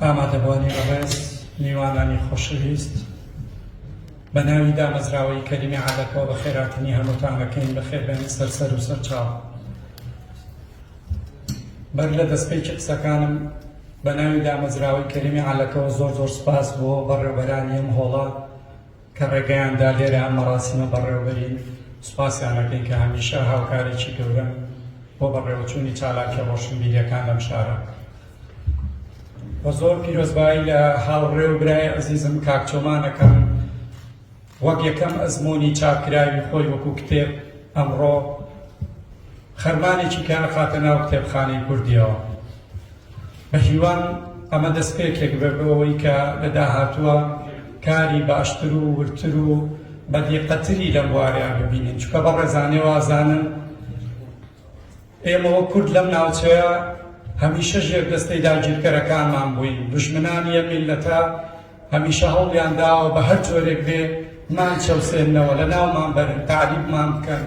ئامادەبوانی بەڕێز، میوانانی خۆشەویست، بە ناوی دامەزراوەی کەریمی عەلەکەوە بە خێراتنی هەمووتان ئەکەین، بە خێر بێن سەر سەر و سەر چاو. بەر لە دەستپێکی قسەکانم بە ناوی دامەزراوەی کەریمی عەلەکەوە زۆر زۆر سوپاس بۆ بەڕێوبەرانی ئەم هۆڵە کە ڕێگەیان دا لێرە ئەم مەراسیمە بەڕێوەبەرین، سوپاسیان ئەکەین کە هەمیشە هاوکارێکی گەورەن بۆ بەڕێوەچوونی چالاکیە ڕۆشنبیریەکان لەم شارە. وە زۆر پیرۆزبایی لە هاوڕێ و برای عزیزم کاک چۆمان ئەکەم وەک یەکەم ئەزموونی چاپکراوی خۆی وەکو کتێب ئەمڕۆ خەرمانێکی کە ئەخاتە ناو کتێبخانەی کوردیەوە بەهیوام ئەمە دەستپێکێک بێت بۆ ئەوەی کە لە داهاتووە کاری باشتر و وردتر و بەدیقەتری لەم بوارەیان ببینین چکە بە ڕێزانێ وازانن ئێمەوە کورد لەم ناوچەیە هەمیشە ژێر دەستەی داگیرکەرەکانمان بووین دژمنانی یە میلەتە هەمیشە هەوڵیان داوە بە هەر جۆرێک بێ مان چەوسێنەوە لە ناومان بەرن تعریبمان بکەن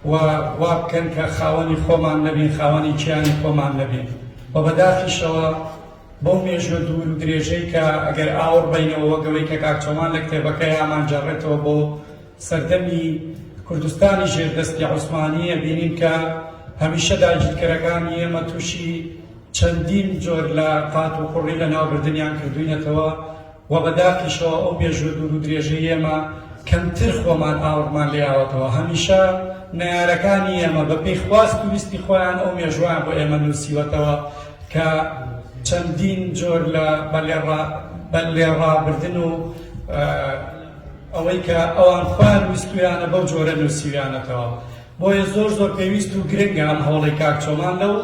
و وا بکەن کە خاوەنی خۆمان نەبین، خاوەنی کیانی خۆمان نەبین و بەداخیشەوە بەو مێژوە دوور و درێژەی کە ئەگەر ئاوڕ بەینەوە وەک ئەوەی کە کاک چۆمان لە کتێبەکەی ئامانجەڕێتەوە بۆ سەردەمی کوردستانی ژێر دەستی عوسمانی ئەبینین کە هەمیشە داگیرکەرەکانی ئێمە تووشی چەندین جۆر لە قات و قڕی لە ناوبردنیان کردوینەتەوە وە بە داخیشەوە ئەو مێژووە دوور و درێژەی ئێمە کەمتر خۆمان ئاوڕمان لێ ئاوەتەوە هەمیشە نەیارەکانی ئێمە بە پێی خواست و ویستی خۆیان ئەو مێژووەیان بۆ ئێمە نووسیوەتەوە کە چەندین جۆر لە بە لێ ڕابردن و ئەوەی کە ئەوان خۆیان ویستویانە بەو جۆرە نووسیویانەتەوە بۆیە زۆر زۆر پێویست و گرنگە ئەم هەوڵەی کاک چۆمان لەو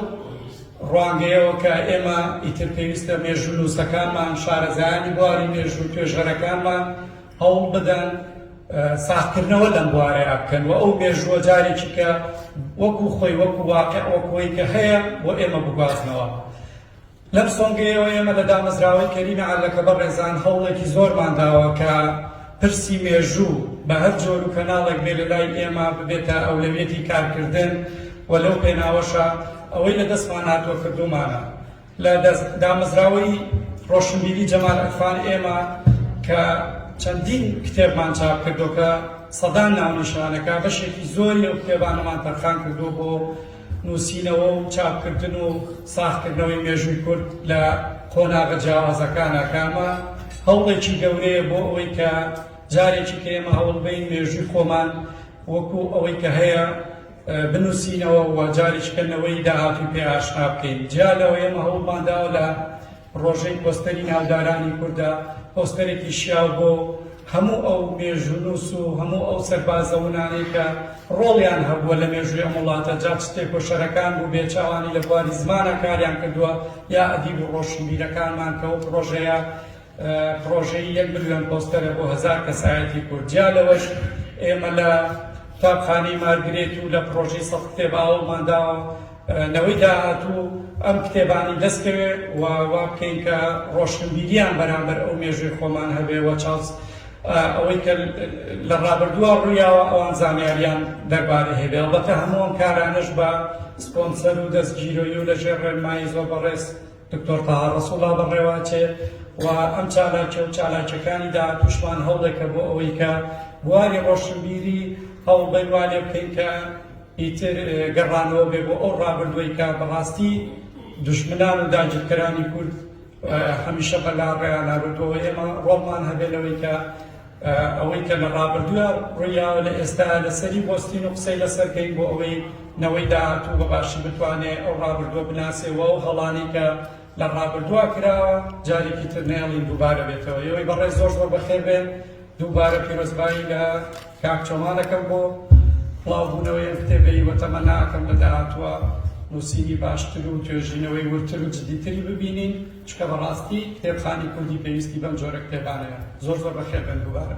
ڕوانگەیەوە کە ئێمە ئیتر پێویستە مێژوونووسەکانمان، شارەزایانی بواری مێژوو و توێژەرەکانمان هەوڵ بدەن ساغکردنەوە لەم بوارەیا بکەن و ئەو مێژووە جارێکی کە وەکو خۆی وەکو واقع وەکوەی کە هەیە بۆ ئێمە بگوازنەوە. لەم سۆنگەیەوە ئێمە لە دامەزراوەی کەریمی عەلەکە بەڕێزان هەوڵێکی زۆرمان داوە کە پرسی مێژوو بە هەر جۆر و کەناڵێک بێ لە لای ئێمە ببێتە ئەولەویەتی کارکردن و لەو پێناوەشە ئەوەی لە دەستمان هاتووە کردوومانە. لە دەست دامەزراوەی ڕۆشنبیری جەمال عرفان ئێمە کە چەندین کتێبمان چاپ کردووە کە سەدان ناونیشانەکە بەشێکی زۆری ئەو کتێبانەمان تەرخان کردووە بۆ نووسینەوە و چاپکردن و ساغکردنەوەی مێژووی کورد لە قۆناغە جیاوازەکانا کامە؟ هەوڵێکی گەورەیە بۆ ئەوەی کە جارێکی کە ئێمە هەوڵ بەین مێژووی خۆمان وەکو ئەوەی کە هەیە بنووسینەوە و جارێکی کە نەوەی داهاتووی پێ ئاشنا بکەین. جیا لەوە ئێمە هەوڵمان داوە لە پڕۆژەی پۆستەری ناودارانی کوردە، پۆستەرێکی شیاو بۆ هەموو ئەو مێژوونووس و هەموو ئەو سەربازە ونانەی کە ڕۆڵیان هەبووە لە مێژووی ئەم وڵاتە، جا چ تێکۆشەرەکان بوو بێ چاوانی لە بواری زمانا کاریان کردووە یا ئەدیب و ڕۆشنبیرەکانمان کە ئەو پڕۆژەیە پڕۆژەی یەک ملیۆن پۆستەرە بۆ هەزار کەسایەتی کورد. جیا لەوەش ئێمە لە قوتابخانەی مارگرێت و لە پڕۆژەی سەد کتێب ئاوەڵمان داوە، نەوەی داهاتوو ئەم کتێبانەی دەست کەوێ و وا بکەین کە ڕۆشنبیریان بەرامبەر ئەو مێژووی خۆمان هەبێ و چاوس ئەوەی کە لە ڕابردووە ڕوویاوە ئەوان زانیاریان دەربارەی هەبێ ئەڵبەتە هەموو ئەم کارانەش بە سپۆنسەر و دەستگیرۆی و لەژێر ڕێنمایی زۆر بەڕێز دکتۆر تەها ڕەسوڵا بەڕێواچێ و ئەم چالاکی و چالاکیەکانی داهاتووشمان هەوڵێکە بۆ ئەوەی کە بواری ڕۆشنبیری هەوڵ بەیوانێ بکەین کە ئیتر گەڕانەوە بێ بۆ ئەو ڕابردووەی کە بەڕاستی دوژمنان و داگیرکەرانی کورد هەمیشە بە لا ڕێیانا بردووەوە ئێمە ڕۆڵمان هەبێ لەوەی کە ئەوەی کە لە ڕابردووە ڕوویاوە لە ئێستا لەسەری بۆستین و قسەی لەسەر کەین بۆ ئەوەی نەوەی داهاتوو بە باشی بتوانێ ئەو ڕابردووە بناسێەوە و هەڵانی کە لە ڕابردووە کراوە جارێکی تر نێڵین دووبارە بێتەوە یەوەی بەڕێ زۆر زۆر بەخێر بێن دووبارە پیرۆزبایی لە کاک چۆمان دەکەم بۆ بڵاوبوونەوەی ئەم کتێبەی وە تەمە ناکەم لە داهاتووە نووسینی باشتر و توێژینەوەی وردتر و جدیتری ببینین چکە بەڕاستی کتێبخانی کوردی پێویستی بەم جۆرە کتێبانەیە زۆر زۆر بەخێربێن دووبارە